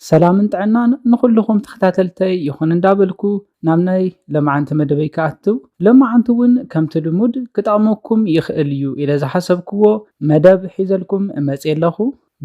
ሰላምን ጥዕናን ንኹልኹም ተኸታተልተይ ይኹን እንዳበልኩ ናብ ናይ ለማዓንቲ መደበይ ክኣትው ለማዓንቲ እውን ከምቲ ልሙድ ክጠቕመኩም ይኽእል እዩ ኢለ ዝሓሰብክዎ መደብ ሒዘልኩም መፅየ ኣለኹ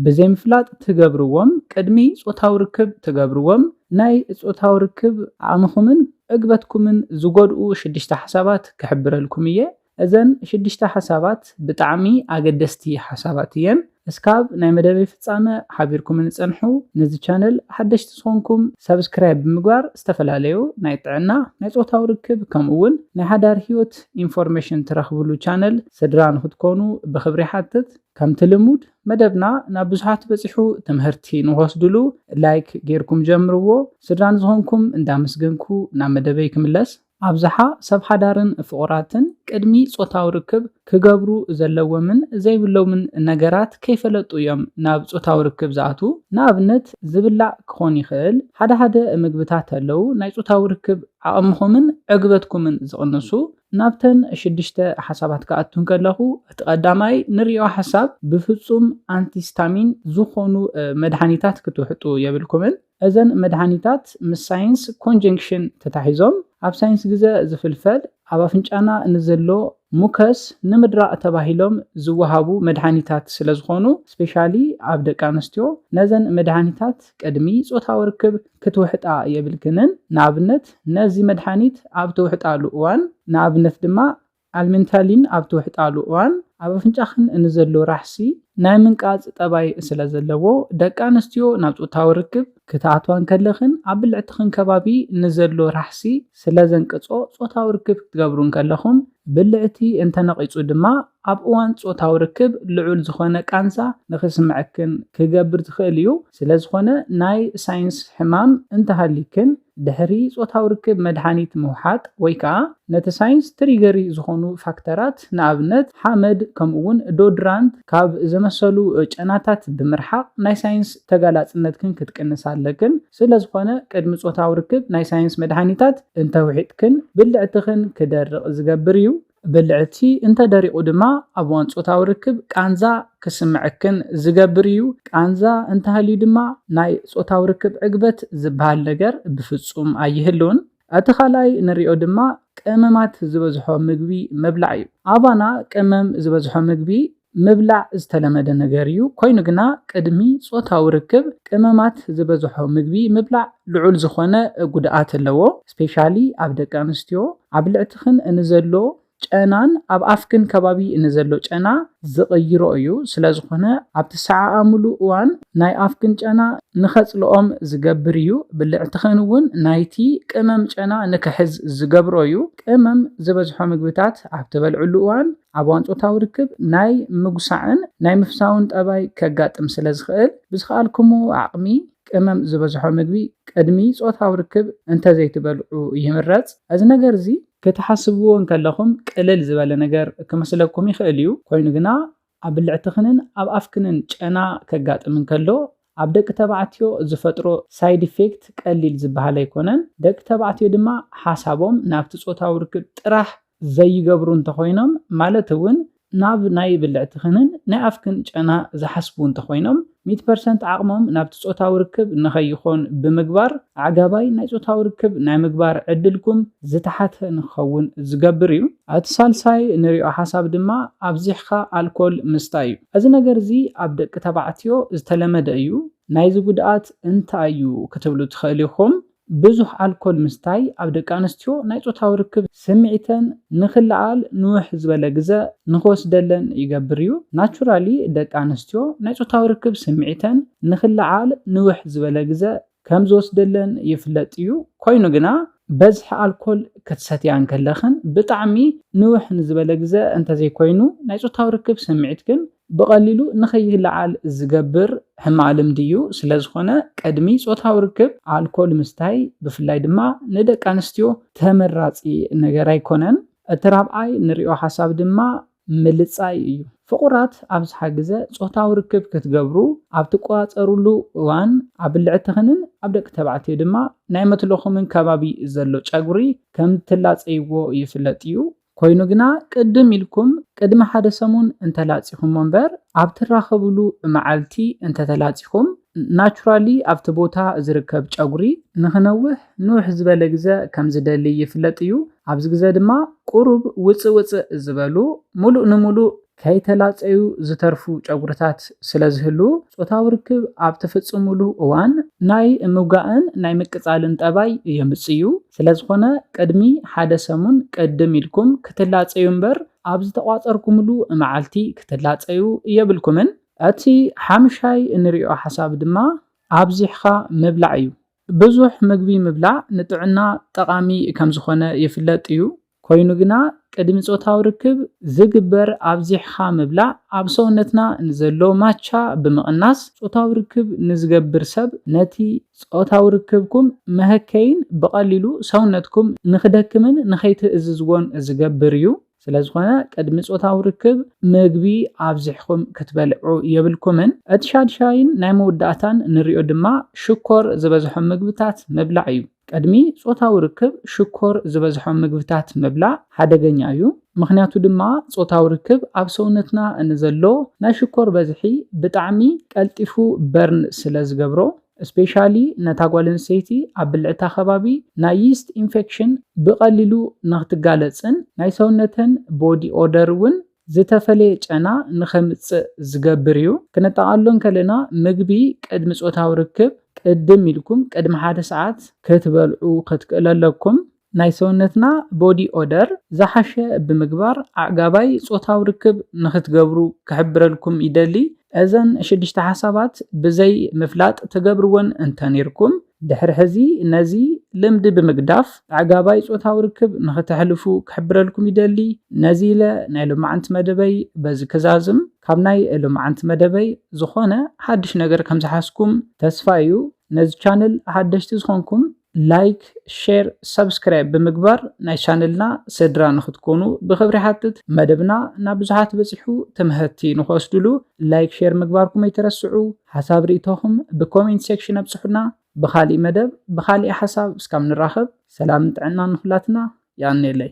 ብዘይምፍላጥ ትገብርዎም ቅድሚ ፆታዊ ርክብ ትገብርዎም ናይ ፆታዊ ርክብ ዓቕምኹምን ዕግበትኩምን ዝጎድኡ ሽድሽተ ሓሳባት ክሕብረልኩም እየ እዘን ሽዱሽተ ሓሳባት ብጣዕሚ ኣገደስቲ ሓሳባት እየን እስካብ ናይ መደበይ ፍጻመ ሓቢርኩምኒ ጸንሑ ነዚ ቻነል ሓደሽቲ ዝኮንኩም ሳብስክራይብ ብምግባር ዝተፈላለዩ ናይ ጥዕና ናይ ጾታዊ ርክብ ከምኡ ውን ናይ ሓዳር ሂወት ኢንፎርሜሽን ትረክብሉ ቻነል ስድራ ንክትኮኑ ብክብሪ ይሓትት ከምቲ ልሙድ መደብና ናብ ብዙሓት በጺሑ ትምህርቲ ንክወስድሉ ላይክ ጌርኩም ጀምርዎ ስድራ ንዝኮንኩም እንዳመስገንኩ ናብ መደበይ ክምለስ። ኣብዝሓ ሰብ ሓዳርን ፍቑራትን ቅድሚ ጾታዊ ርክብ ክገብሩ ዘለዎምን ዘይብሎምን ነገራት ከይፈለጡ እዮም ናብ ጾታዊ ርክብ ዝኣትዉ። ንኣብነት ዝብላዕ ክኾን ይኽእል፣ ሓደ ሓደ ምግብታት ኣለዉ ናይ ጾታዊ ርክብ ዓቕምኹምን ዕግበትኩምን ዝቕንሱ። ናብተን ሽዱሽተ ሓሳባት ክኣቱ እንከለኹ እቲ ቀዳማይ ንሪኦ ሓሳብ ብፍጹም ኣንቲስታሚን ዝኾኑ መድሓኒታት ክትውሕጡ የብልኩምን። እዘን መድሃኒታት ምስ ሳይንስ ኮንጀንክሽን ተታሒዞም ኣብ ሳይንስ ግዘ ዝፍልፈል ኣብ ኣፍንጫና ንዘሎ ሙከስ ንምድራቕ ተባሂሎም ዝወሃቡ መድሃኒታት ስለዝኾኑ ስፔሻሊ ኣብ ደቂ ኣንስትዮ ነዘን መድሃኒታት ቅድሚ ፆታዊ ርክብ ክትውሕጣ የብልክንን ንኣብነት ነዚ መድሃኒት ኣብ ትውሕጣሉ እዋን ንኣብነት ድማ ኣልሜንታሊን ኣብ ትውሕጣሉ እዋን ኣብ ኣፍንጫኽን እንዘሎ ራሕሲ ናይ ምንቃጽ ጠባይ ስለ ዘለዎ፣ ደቂ ኣንስትዮ ናብ ጾታዊ ርክብ ክትኣትዋ እንከለኽን ኣብ ብልዕትኽን ከባቢ ንዘሎ ራሕሲ ስለ ዘንቅጾ ጾታዊ ርክብ ክትገብሩ እንከለኹም ብልዕቲ እንተነቒጹ ድማ ኣብ እዋን ጾታዊ ርክብ ልዑል ዝኾነ ቃንዛ ንኽስምዐክን ክገብር ዝኽእል እዩ። ስለዝኾነ ናይ ሳይንስ ሕማም እንተሃልይክን፣ ድሕሪ ጾታዊ ርክብ መድሃኒት ምውሓጥ ወይ ከኣ ነቲ ሳይንስ ትሪገሪ ዝኾኑ ፋክተራት፣ ንኣብነት ሓመድ ከምኡ'ውን ዶድራንት ካብ ዘመሰሉ ጨናታት ብምርሓቕ ናይ ሳይንስ ተጋላጽነትክን ክትቅንሳ ኣለክን። ስለዝኾነ ቅድሚ ጾታዊ ርክብ ናይ ሳይንስ መድሃኒታት እንተውሒጥክን ብልዕትኽን ክደርቕ ዝገብር እዩ። ብልዕቲ እንተ ደሪቑ ድማ ኣብ እዋን ጾታዊ ርክብ ቃንዛ ክስምዐክን ዝገብር እዩ። ቃንዛ እንተሃልዩ ድማ ናይ ጾታዊ ርክብ ዕግበት ዝበሃል ነገር ብፍጹም ኣይህሉን። እቲ ካልኣይ ንሪኦ ድማ ቀመማት ዝበዝሖ ምግቢ ምብላዕ እዩ። ኣባና ቀመም ዝበዝሖ ምግቢ ምብላዕ ዝተለመደ ነገር እዩ፣ ኰይኑ ግና ቅድሚ ጾታዊ ርክብ ቀመማት ዝበዝሖ ምግቢ ምብላዕ ልዑል ዝዀነ ጕድኣት ኣለዎ፣ ስፔሻሊ ኣብ ደቂ ኣንስትዮ። ኣብ ብልዕትኽን እንዘሎ ጨናን ኣብ ኣፍክን ከባቢ እንዘሎ ጨና ዝቕይሮ እዩ፣ ስለዝዀነ ኣብ ትሰዓዓምሉ እዋን ናይ ኣፍክን ጨና ንኸጽልኦም ዝገብር እዩ፣ ብልዕትኽን እውን ናይቲ ቀመም ጨና ንክሕዝ ዝገብሮ እዩ። ቀመም ዝበዝሖ ምግብታት ኣብ ትበልዕሉ እዋን ኣብ እዋን ጾታዊ ርክብ ናይ ምጉሳዕን ናይ ምፍሳውን ጠባይ ከጋጥም ስለ ዝኽእል፣ ብዝኸኣልኩምዎ ዓቕሚ ቅመም ዝበዝሖ ምግቢ ቅድሚ ጾታዊ ርክብ እንተ ዘይትበልዑ ይምረጽ። እዚ ነገር እዚ። ክትሓስብዎ እንከለኹም ቅልል ዝበለ ነገር ክመስለኩም ይኽእል እዩ፣ ኰይኑ ግና ኣብ ብልዕትኽንን ኣብ ኣፍክንን ጨና ከጋጥም እንከሎ ኣብ ደቂ ተባዕትዮ ዝፈጥሮ ሳይድ ኢፌክት ቀሊል ዝበሃል ኣይኮነን። ደቂ ተባዕትዮ ድማ ሓሳቦም ናብቲ ጾታዊ ርክብ ጥራሕ ዘይገብሩ እንተኾይኖም ማለት እውን ናብ ናይ ብልዕትኽንን ናይ ኣፍክን ጨና ዝሓስቡ እንተኾይኖም ሚእቲ ፐርሰንት ዓቕሞም ናብቲ ጾታዊ ርክብ ንኸይኾን ብምግባር ኣዕጋባይ ናይ ጾታዊ ርክብ ናይ ምግባር ዕድልኩም ዝተሓተ ንክኸውን ዝገብር እዩ። እቲ ሳልሳይ እንሪኦ ሓሳብ ድማ ኣብዚሕኻ ኣልኮል ምስታይ እዩ። እዚ ነገር እዚ ኣብ ደቂ ተባዕትዮ ዝተለመደ እዩ። ናይዚ ጉድኣት እንታይ እዩ ክትብሉ ትኸእሉ ኢኹም። ብዙሕ ኣልኮል ምስታይ ኣብ ደቂ ኣንስትዮ ናይ ፆታዊ ርክብ ስምዒተን ንክለዓል ንውሕ ዝበለ ግዘ ንክወስደለን ይገብር እዩ። ናቹራሊ ደቂ ኣንስትዮ ናይ ፆታዊ ርክብ ስምዒተን ንክለዓል ንውሕ ዝበለ ግዘ ከም ዝወስደለን ይፍለጥ እዩ። ኮይኑ ግና በዝሒ ኣልኮል ክትሰትያ እንከለኽን ብጣዕሚ ንውሕ ንዝበለ ግዘ እንተዘይኮይኑ ናይ ፆታዊ ርክብ ስምዒትክን ብቐሊሉ ንከይልዓል ዝገብር ሕማቕ ልምዲ እዩ። ስለዝኾነ ቅድሚ ፆታዊ ርክብ ኣልኮል ምስታይ ብፍላይ ድማ ንደቂ ኣንስትዮ ተመራፂ ነገር ኣይኮነን። እቲ ራብዓይ ንሪኦ ሓሳብ ድማ ምልጻይ እዩ። ፍቑራት ኣብዝሓ ግዘ ፆታዊ ርክብ ክትገብሩ ኣብ ትቆፃፀሩሉ እዋን ኣብ ብልዕትኽንን ኣብ ደቂ ተባዕትዮ ድማ ናይ መትሎኹምን ከባቢ ዘሎ ጨጉሪ ከምትላፀይዎ ይፍለጥ እዩ። ኮይኑ ግና ቅድም ኢልኩም ቅድሚ ሓደ ሰሙን እንተላፂኹሞ እምበር ኣብ ትራኸብሉ መዓልቲ እንተተላፂኹም ናቹራሊ ኣብቲ ቦታ ዝርከብ ጨጉሪ ንኽነውሕ ንውሕ ዝበለ ግዘ ከም ዝደሊ ይፍለጥ እዩ። ኣብዚ ግዘ ድማ ቁሩብ ውፅእ ውፅእ ዝበሉ ሙሉእ ንሙሉእ ከይተላፀዩ ዝተርፉ ጨጉሪታት ስለ ዝህልዉ ፆታዊ ርክብ ኣብ ትፍፅምሉ እዋን ናይ ምውጋእን ናይ ምቅፃልን ጠባይ የምፅኡ። ስለ ዝኾነ ቅድሚ ሓደ ሰሙን ቅድም ኢልኩም ክትላፀዩ እምበር ኣብ ዝተቋፀርኩምሉ መዓልቲ ክትላፀዩ የብልኩምን። እቲ ሓምሻይ እንሪኦ ሓሳብ ድማ ኣብዚሕኻ ምብላዕ እዩ። ብዙሕ ምግቢ ምብላዕ ንጥዕና ጠቓሚ ከም ዝኾነ ይፍለጥ እዩ፣ ኮይኑ ግና ቅድሚ ጾታዊ ርክብ ዝግበር ኣብዚሕኻ ምብላዕ ኣብ ሰውነትና ንዘሎ ማቻ ብምቕናስ ጾታዊ ርክብ ንዝገብር ሰብ ነቲ ጾታዊ ርክብኩም መሀከይን ብቐሊሉ ሰውነትኩም ንኽደክምን ንኸይትእዝዝዎን ዝገብር እዩ። ስለዝኾነ ቅድሚ ጾታዊ ርክብ ምግቢ ኣብዚሕኩም ክትበልዑ የብልኩምን። እቲ ሻድሻይን ናይ መወዳእታን ንሪኦ ድማ ሽኮር ዝበዝሖም ምግብታት ምብላዕ እዩ። ቅድሚ ጾታዊ ርክብ ሽኮር ዝበዝሖም ምግብታት ምብላዕ ሓደገኛ እዩ። ምኽንያቱ ድማ ጾታዊ ርክብ ኣብ ሰውነትና ንዘሎ ናይ ሽኮር በዝሒ ብጣዕሚ ቀልጢፉ በርን ስለዝገብሮ። እስፔሻሊ ነታ ጓል ኣንስተይቲ ኣብ ብልዕታ ከባቢ ናይ ይስት ኢንፌክሽን ብቀሊሉ ንክትጋለጽን ናይ ሰውነተን ቦዲ ኦደር ውን ዝተፈለየ ጨና ንከምጽእ ዝገብር እዩ። ክንጠቃሎ እንከለና ምግቢ ቅድሚ ጾታዊ ርክብ ቅድም ኢልኩም ቅድሚ ሓደ ሰዓት ክትበልዑ ክትክእሉ ኣለኩም። ናይ ሰውነትና ቦዲ ኦደር ዝሓሸ ብምግባር ኣዕጋባይ ጾታዊ ርክብ ንኽትገብሩ ክሕብረልኩም ይደሊ። እዘን ሽዱሽተ ሓሳባት ብዘይ ምፍላጥ ትገብርወን እንተ ኔርኩም፣ ድሕሪ ሕዚ ነዚ ልምዲ ብምግዳፍ ኣዕጋባይ ጾታዊ ርክብ ንኽተሕልፉ ክሕብረልኩም ይደሊ። ነዚ ኢለ ናይ ሎማዕንቲ መደበይ በዚ ክዛዝም። ካብ ናይ ሎማዕንቲ መደበይ ዝኾነ ሓድሽ ነገር ከም ዝሓዝኩም ተስፋ እዩ። ነዚ ቻነል ሓደሽቲ ዝኾንኩም ላይክ ሼር ሳብስክራይብ ብምግባር ናይ ቻነልና ስድራ ንክትኮኑ ብክብሪ ይሓትት መደብና ናብ ብዙሓት በፂሑ ትምህቲ ንክወስድሉ ላይክ ሼር ምግባርኩም ኣይትረስዑ ሓሳብ ሪኢቶኹም ብኮሜንት ሴክሽን ኣብፅሑና ብካሊእ መደብ ብካሊእ ሓሳብ እስካብ ንራኸብ ሰላምን ጥዕናን ንኩላትና ያኔለይ